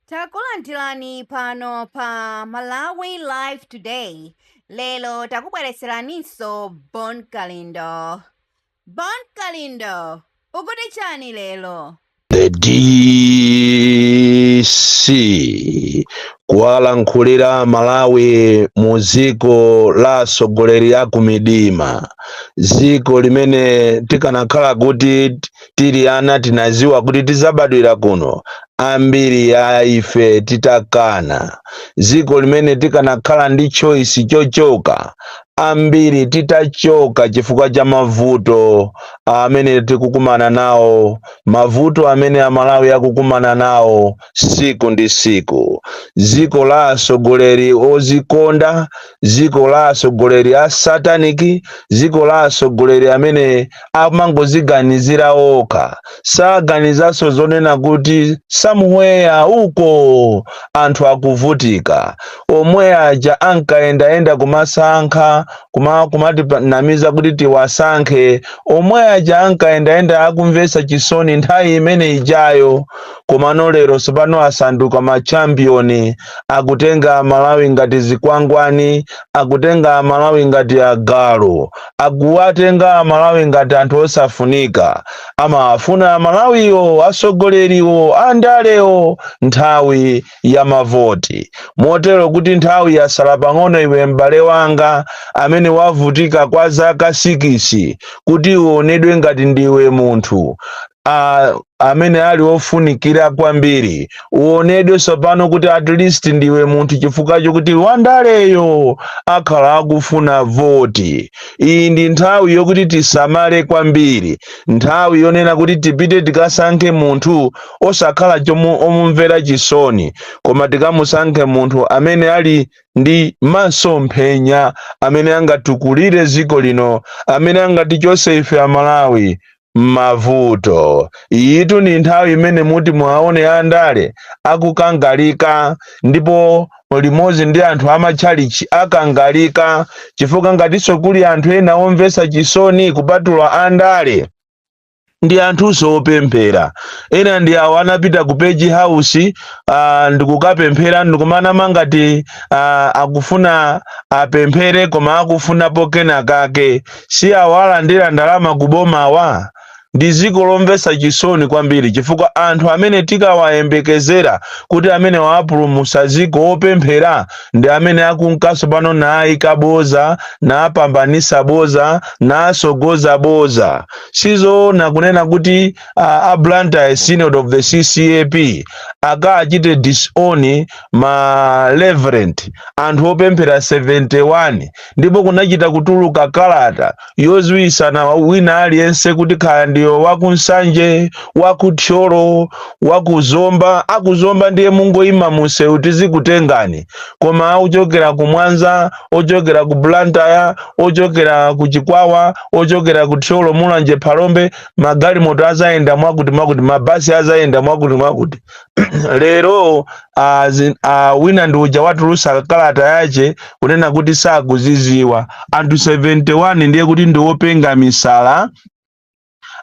Takulandirani pano pa Malawi Live Today. Lero takubweretseraninso Bon Kalindo. Bon Kalindo, ukuti chani lero? The DC kuwalankhulira Malawi mu dziko la atsogoleri a kumidima, dziko limene tikanakhala kuti tili ana tinadziwa kuti tidzabadwira kuno, ambiri a ife titakana, dziko limene tikanakhala ndi choice chochoka, ambiri titachoka chifukwa cha mavuto amene tikukumana nawo, mavuto amene Amalawi akukumana nawo tsiku ndi tsiku, dziko la atsogoleri odzikonda, dziko la atsogoleri a satanic dziko la atsogoleri amene amangoziganizira okha saganizanso zonena kuti somewhere uko anthu akuvutika omwe aja ankayendayenda kumasankha kumatinamiza kuti tiwasankhe omwe aja ankayendayenda akumvetsa chisoni nthawi imene ijayo komano lero tsopano asanduka machampiyoni akutenga amalawi ngati zikwangwani akutenga amalawi ngati agalu akuwatenga amalawi ngati anthu osafunika amawafuna amalawiwo asogoleriwo andalewo nthawi ya mavoti motero kuti nthawi yasala pang'ono iwe m'bale wanga amene wavutika kwa zaka sikisi kuti uonedwe ngati ndiwe munthu amene ali ofunikira kwambiri uonedwe tsopano kuti at least ndiwe munthu chifukwa chokuti wandaleyo akhala akufuna voti iyi ndi nthawi yokuti tisamale kwambiri nthawi yonena kuti tipite tikasankhe munthu osakhala omumvera chisoni koma tikamusankhe munthu amene ali ndi masomphenya amene angatukulire dziko lino amene angatichose ife amalawi m'mavuto. Iyitu ndi nthawi imene muti muwaone andale akukangalika ndipo limodzi ndi anthu amatchalitchi akangalika chifukwa ngatinso kuli anthu ena omvetsa chisoni kupatula andale ndi anthunso opemphera ena ndi awo anapita ku page house uh, ndikukapemphera ndikumanama ngati uh, akufuna apemphere koma akufunapo kenakake si awa alandira ndalama ku bomawa? Ndi dziko lomvetsa chisoni kwambiri chifukwa anthu amene tikawayembekezera kuti amenewa apulumutsa dziko opemphera ndi amene akunkanso pano naayika bodza, naapambanitsa bodza, naatsogoza bodza. Si zoona kunena kuti a, a Blantyre Synod of the CCAP akaachite disown ma reverend anthu opemphera 71 ndipo kunachita kutuluka kalata yoziwisana wina aliyense kuti kaya ndiyo wakunsanje wakuthyolo wakuzomba akuzomba ndiye mungoyima munsewu tizikutengani koma ochokera ku mwanza ochokera ku blantyre ochokera ku chikwawa ochokera ku thyolo mulanje phalombe magalimoto azayenda mwakuti mwakuti mabasi azayenda mwakuti mwakuti lero ah, zi- ah, wina ndi uja watulusa kalata yache kunena kuti sakuziziwa anthu 71 ndiye kuti ndi openga misala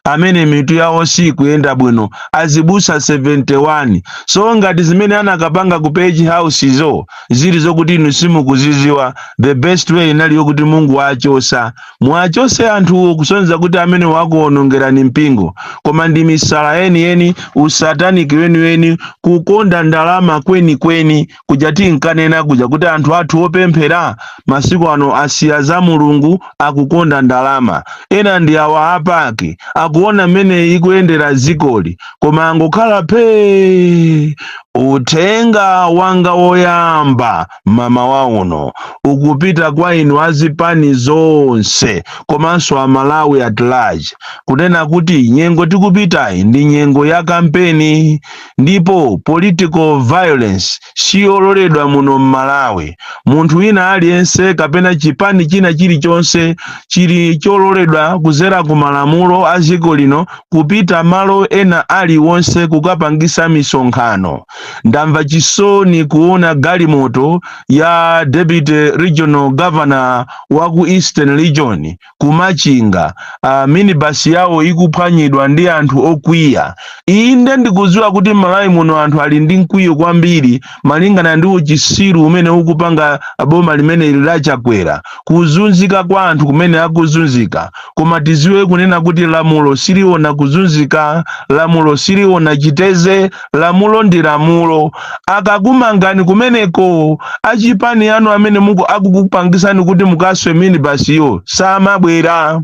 amene mitu yawo sikuyenda bwino azibusa 71 so ngati zimene anakapanga ku page house zo zili zokuti inu simukuziziwa the best way inali yokuti mungowachosa Muwachotse anthuwo kusonyeza kuti amenewa akuwonongerani mpingo, koma ndi misala yeniyeni, usataniki weniweni, kukonda ndalama kwenikweni kuja tinkanena kuja kuti anthu athu opemphera masiku ano asiya za Mulungu akukonda ndalama. Ena ndi awa a PAC akuona mmene ikuyendera dzikoli koma angokhala phee. Uthenga wanga woyamba mamawa uno ukupita kwa inu azipani zonse komanso amalawi at large kunena kuti nyengo tikupitayi ndi nyengo ya kampeni ndipo political violence siyololedwa muno mmalawi munthu wina aliyense kapena chipani china chilichonse chili chololedwa kuzera ku malamulo a dziko lino kupita malo ena aliwonse kukapangisa misonkhano ndamva chisoni kuona galimoto ya deputy regional governor wa ku eastern region kumachinga uh, minibus yawo ikuphwanyidwa ndi anthu okwiya inde ndikudziwa kuti malawi muno anthu ali ndi mkwiyo kwambiri malingana ndi uchisiru umene ukupanga boma limene ili la chakwera kuzunzika kwa anthu kumene akuzunzika koma tiziwe kunena kuti lamulo siliona kuzunzika lamulo siliona chiteze lamulo ndi lamulo akakumangani kumeneko achipani anu amene muku akukupangisani kuti mukaswe minibasiyo samabwera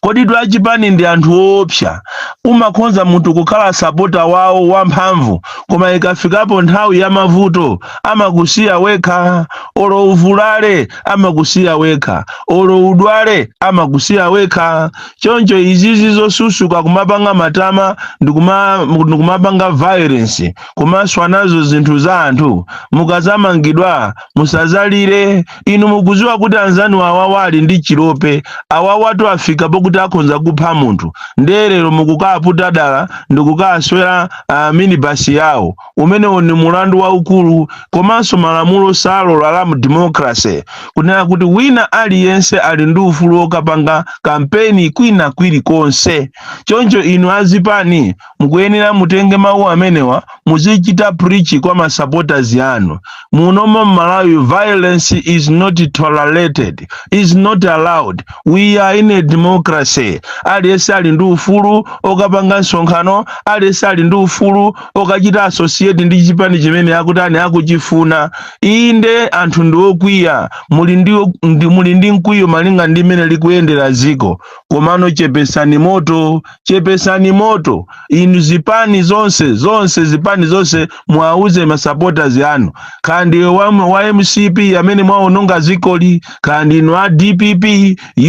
kodi tu achipani ndi anthu oopsa umakhonza munthu kukhala sapota wawo wamphamvu koma ikafikapo nthawi ya mavuto amakusiya wekha olo uvulale amakusiya wekha olo udwale amakusiya wekha choncho izizi zosusuka kumapanga matama ndikuma- ndikumapanga violence kumaswa nazo zinthu za anthu mukazamangidwa musazalire inu mukuziwa kuti anzanu awawa ali ndi chilope awawatu afika pokuti akhonza kupha munthu nde lero mukukaaputa dala ndikukaswera uh, minibasi yawo umenewo ni mulandu waukulu komanso malamulo salola la mdemokrase kunena kuti wina aliyense ali ndi ufulu wokapanga kampeni kwina kwilikonse choncho inu azipani mukuyenera mutenge mawu amenewa muzichita preach kwa masupporters yanu munomo mmalawi violence is not tolerated is not allowed we are in a democracy aliyense ali ndi ufulu okapanga msonkhano aliyense ali ndi ufulu okachita associate ndi chipani chimene akutani akuchifuna inde anthu ndi okwiya muli ndi, ndi, muli ndi mkwiyo malinga ndi mmene likuyendera ziko komano chepesani moto chepesani moto inu zipani zonse zonse zipani zonse muwauze masupporters anu kaya ndiwe wa, wa mcp amene mwaononga zikoli kaya ndinu a dpp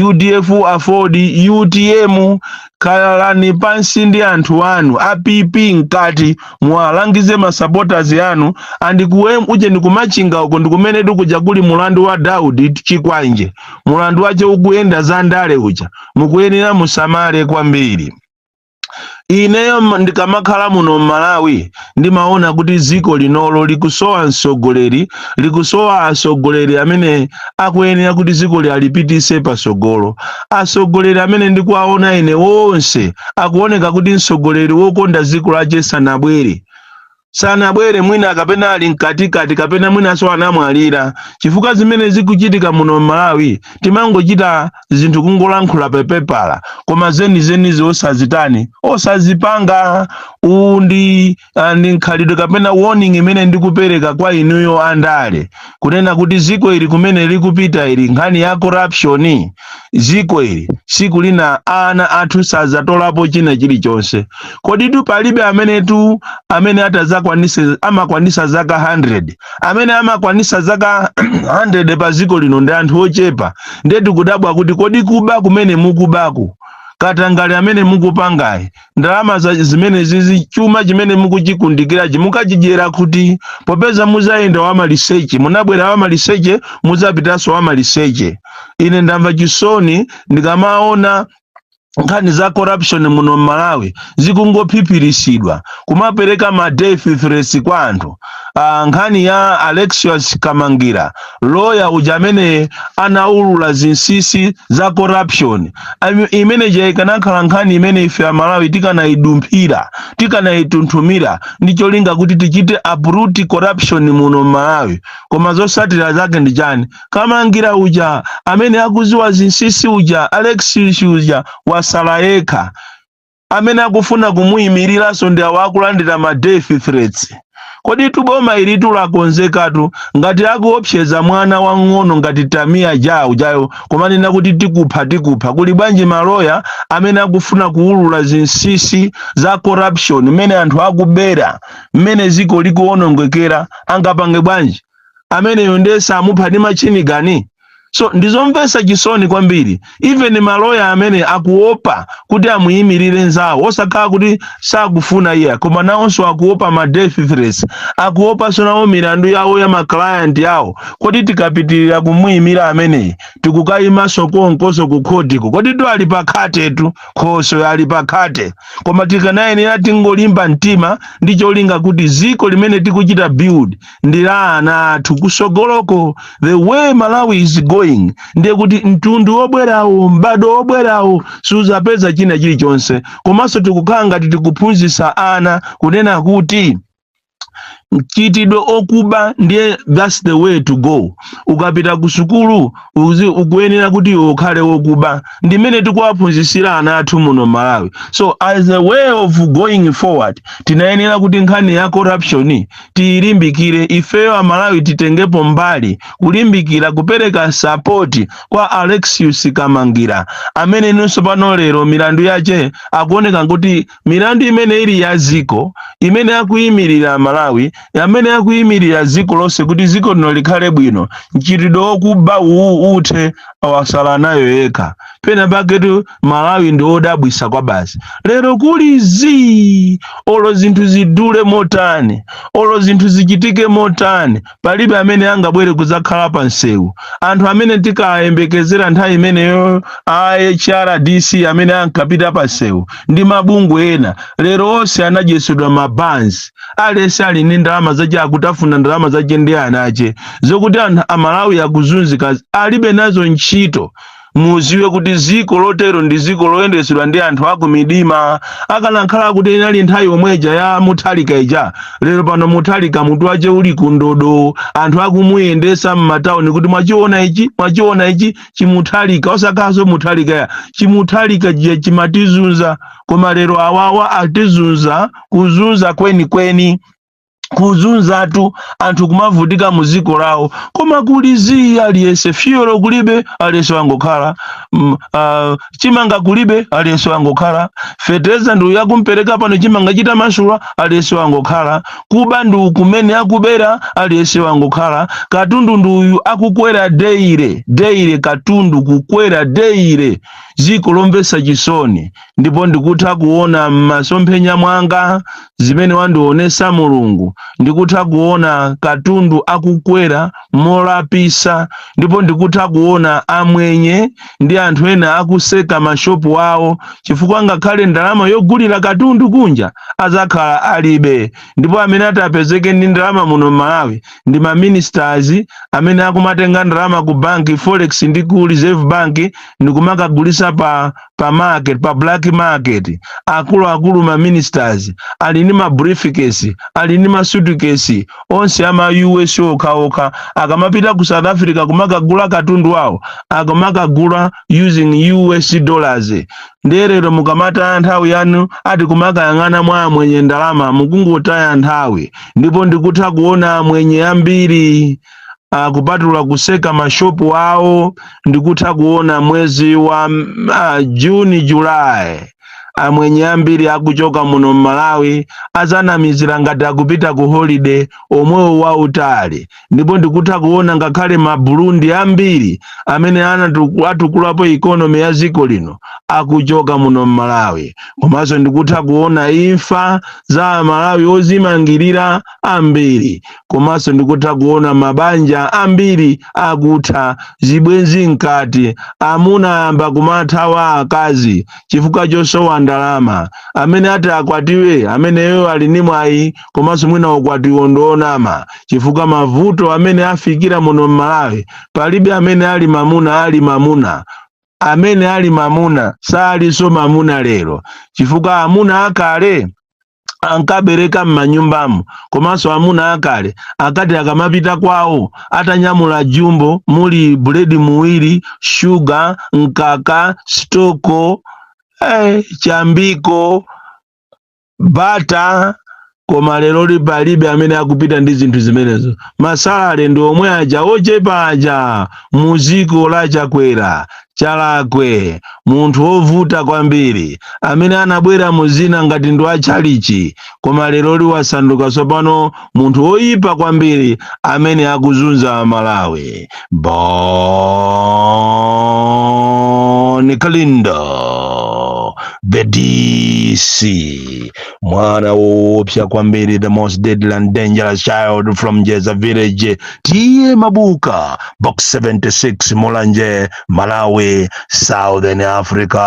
udf aford utm khalani pansi ndi anthu anu a pp mkati muwalangize masupporters anu and ku uje ndikumachinga uko ndikumene tu kuja kuli mulandu wa daudi chikwanje mulandu wache ukuyenda za ndale uja mukuyenera musamale kwambiri ineyo m- ndikamakhala muno m'malawi ndimaona kuti ziko linolo likusowa msogoleri likusowa asogoleri amene akuyenera kuti ziko lialipitise pasogolo asogoleri amene ndikuwaona ine wonse akuoneka kuti msogoleri wokonda ziko lache sanabwere sanabwere mwina kapena ali mkatikati kapena mwinanso anamwalira chifukwa zimene zikuchitika muno m'malawi timangochita zinthu kungolankhula pepepala koma zenizenizo osazitani osazipanga uwu ndi ah, ndi mkhalidwe kapena warning imene ndikupereka kwa inuyo andale kunena kuti ziko ili kumene likupita ili nkhani ya corruption ziko ili siku lina ana athu sazatolapo china chilichonse kodi tu palibe amene tu amene atazakwanise amakwanisa zaka 100 amene amakwanisa zaka 100 pa dziko lino ndi anthu ochepa ndiye tikudabwa kuti kodi kuba kumene mukubaku katangale amene mukupangayi ndalama za- zimenezizi chuma chimene mukuchikundikirachi mukachidyera kuti popeza muzayenda wamaliseche munabwera wamaliseche muzapitanso wamaliseche ine ndamva chisoni ndikamaona nkhani za corruption muno m'malawi zikungophiphiritsidwa kumapereka ma death threats kwa anthu ah, nkhani ya Alexius Kamangira loya uja amene anaulula zinsisi za corruption imene ija ikanakhala nkhani imene ife amalawi tikanayidumphira tikanayitunthumira ndi cholinga kuti tichite uproot corruption muno m'malawi koma zosatira zake ndi chani Kamangira uja amene akuziwa zinsisi uja Alexious uja wasala yekha amene akufuna kumuyimiriranso ndi awa akulandira ma death threats koditu boma ilili lakonzekatu ngati akuopseza mwana wang'ono ngati Tamia Ja ujayo kumanena kuti tikupha tikupha kuli bwanji maloya amene akufuna kuwulula zinsisi za corruption mmene anthu akubera mmene ziko likuwonongekera angapange bwanji ameneyo ndiye samupha ndi machini gani so ndizomvesa chisoni kwambiri even maloya amene akuopa kuti amuyimirire nzawo osakhala kuti sakufuna iya koma nawonso akuopa ma death threats akuopanso nawo milandu yawo ya maclient yawo kodi tikapitirira kumuyimira ameneyi tikukayimanso konkoso ku khotiko koditu ali pakhatetu khoso ali pakhate koma tikanayenera tingolimba mtima ndi cholinga kuti ziko limene tikuchita build ndi la ana athu kusogoloko the way malawi is going ndiye kuti mtundu wobwerawo m'bado wobwerawo suzapeza china chilichonse komanso tikukhala ngati tikuphunzitsa ana kunena kuti mchitidwe okuba ndiye that's the way to go ukapita ku sukulu ukuyenera kuti iwe ukhale wokuba ndimene tikuwaphunzitsira ana athu muno malawi so as a way of going forward tinayenera kuti nkhani ya corruption tiyilimbikire ifeyo amalawi titengepo mbali kulimbikira kupereka sapoti kwa Alexius Kamangira amene ndinso pano lero milandu yache akuoneka kuti milandu imene ili ya ziko imene akuyimirira malawi amene akuyimirira ziko lonse kuti ziko lino likhale bwino mchitidwe wokuba uwu uthe awasala nayo yekha penapaketu malawi ndi odabwisa kwabasi lero kuli zii olo zinthu zidule motani olo zinthu zichitike motani palibe amene angabwere kudzakhala pa msewu anthu amene tikayembekezera nthawi imeneyo a hrdc amene ankapita pa msewu ndi mabungwe ena lero onse anadyetsedwa mabanzi aliyense ali ndi ndalama zache akutafuna ndalama zache ndi anache zokuti anthu amalawi akuzunzika alibe nazo ntchito muziwe kuti dziko lotero ndi dziko loyendetsedwa ndi anthu akumidima akanakhala kuti inali nthawi yomweja ya muthalika ija lero pano muthalika mutu wache uli kundodo anthu akumuyendesa m'matauni kuti mwachiona ichi mwachiona ichi chimuthalika osakhalanso muthalika ya chimuthalika ichi chimatizunza koma lero awawa atizunza kuzunza kwenikweni kuzunzatu anthu kumavutika mu dziko lawo koma kuli zii aliyense fyuwelo kulibe aliyense wangokhala mm, ah, chimanga kulibe aliyense wangokhala fetereza ndi uyu akumpereka pano chimanga chitamasula aliyense wangokhala kuba ndi uku mmene akubera aliyense wangokhala katundu ndi uyu akukwera deire deire katundu kukwera deire dziko lomvetsa chisoni ndipo ndikutha kuona m'masomphenya mwanga zimene wandionesa mulungu ndikutha kuona katundu akukwera molapisa ndipo ndikutha kuona amwenye ndi anthu ena akutseka mashopu awo chifukwa ngakhale ndalama yogulira katundu kunja azakhala alibe ndipo amene atapezeke ndi ndalama muno m'malawi ndi maministers amene akumatenga ndalama ku banki forex ndi ku reserve bank ndikumakagulisa pa pa market pa black market akuluakulu ma ministers ali ndi ma briefcase ali ndi ma suitcase onse ama us okhaokha akamapita ku south africa kumakagula katundu wawo akamakagula using us dollars nde lero mukamataya nthawi yanu ati kumakayang'ana mwa amwenye ndalama mukungotaya nthawi ndipo ndikutha kuona amwenye ambiri ah, kupatula kutseka mashopu awo ndikutha kuona mwezi wa mm, ah, juni julayi amwenye ambiri akuchoka muno mmalawi azanamizira ngati akupita ku holiday omwe uwo wautali ndipo ndikutha kuona ngakhale maburundi ambiri amene anatu- atukulapo ikonomi ya dziko lino akuchoka muno mmalawi komanso ndikutha kuona imfa za amalawi ozimangirira ambiri komanso ndikutha kuona mabanja ambiri akutha zibwenzi nkati amuna ayamba kumathawa akazi chifukwa chosowa ndalama amene ati akwatiwe ameneyo ali ni mwayi komanso mwina ukwatiwo ndi wonama chifukwa mavuto amene afikira muno m'malawi palibe amene ali mamuna ali mamuna amene ali mamuna salinso mamuna lero chifukwa amuna akale ankabereka m'manyumbamo komanso amuna akale akati akamapita kwawo atanyamula jumbo muli buledi muwiri shuga mkaka stoko eh, chambiko bata koma leroli palibe amene akupita ndi zinthu zimenezo masalale ndi omwe aja ochepa aja muziko la Chakwera Chalakwe, munthu wovuta kwambiri, amene anabwera mu dzina ngati ndi wa tchalitchi, koma leroli wasanduka tsopano munthu woyipa kwambiri amene akuzunza a Malawi. Bon Kalindo, the DC, mwana woopsa kwambiri, the most deadly and dangerous child from Jeza village. tiye mabuka box 76 mulanje malawi southern africa